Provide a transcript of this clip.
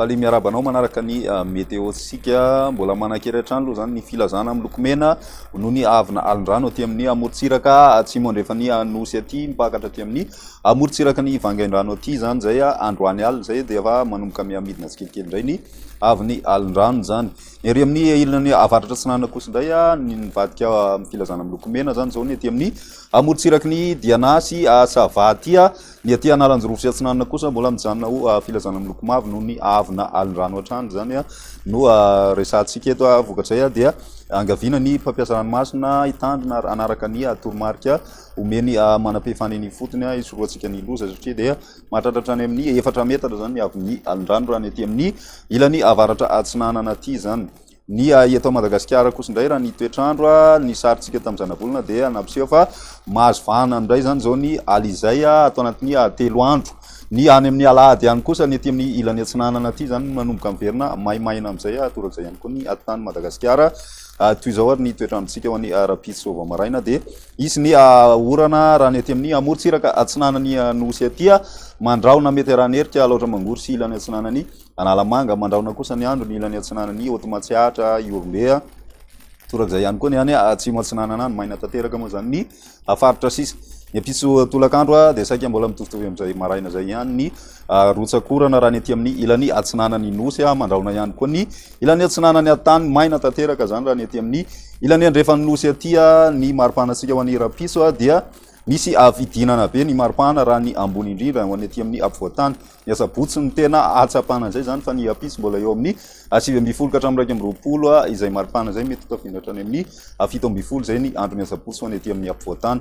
Faly miarahaba anao manaraka ny ah, meteotsika. Mbola manankery hatrany aloha izany ny filazana miloko mena noho ny avina alin-drano aty amin'ny amorontsiraka atsimo andrefan'ny anosy aty mipakatra aty amin'ny amorontsiraka ny vangaindrano aty izany izay ah, androany alina izay dia efa manomboka mihamidina tsikelikely indray ny avy ny alin-drano izany. Ny ery amin'ny ilany avaratra atsinanana kosa indray ny nivadika amin'ny filazana miloko mena izany izao ny aty amin'ny amorontsiraky ny Diana sy Asavatia. Ny aty Analanjirofo sy atsinanana kosa mbola mijanona ho filazana miloko mavo noho ny avina alin-drano hatrany izany no resahantsika eto. Vokatrizay dia angaviana ny mpampiasa ranomasina hitandrina hanaraka ny toromarika omeny manam-pifandrina ifotony hisorohantsika ny loza satria dia Mahatratra hatrany amin'ny efatra metatra izany ny haavon'ny alin-drano raha ny aty amin'ny ilany avaratra atsinanana aty izany. Ny ahy eto Madagasikara kosa indray raha ny toetr'andro, ny sarintsika tamin'ny zanabolana dia nampiseho fa mahazo vahana indray izany izao ny alina izay ato anatin'ny telo andro. Ny any amin'ny alahady any kosa ny aty amin'ny ilany atsinanana aty izany manomboka miverina maimaina amin'izay torak'izay ihany koa ny atitany Madagasikara. Toy izao ary ny toetr'androntsika ho an'ny rahampitso vao maraina dia. Hisy ny orana raha ny aty amin'ny amorontsiraka atsinanan'i Anosy aty. Mandrahona mety arahin'ny erika Alaotra Mangoro sy ilany atsinanan'i Analamanga. Mandrahona kosa ny andro ny ilany atsinanan'i Haute Matsiatra, Ihorombe. Torak'izay ihany koa ny any atsimo atsinanana any. Maina tanteraka moa izany ny faritra sisa. Ny ampitso tolakandro dia saika mbola mitovitovy amin'izay maraina izay ihany ny rotsak'orana raha ny aty amin'ny ilany atsinanan'i Nosy. Mandrahona ihany koa ny. Ilany atsinanany ary tany maina tanteraka zany raha ny aty amin'ny ilany andrefan'ny nosy aty ny maripanantsika ho an'ny rapiso dia misy avidinana be ny maripana raha ny ambony indrindra ho an'ny aty amin'ny apovoantany ny asabotsy ny tena atsapana izay zany fa ny apiso mbola eo amin'ny asivy ambin'ny folo ka hatramin'ny iraika amby roapolo izay maripana izay mety hotafiana hatrany amin'ny fito ambin'ny folo izay ny andro ny asabotsy ho an'ny aty amin'ny apovoantany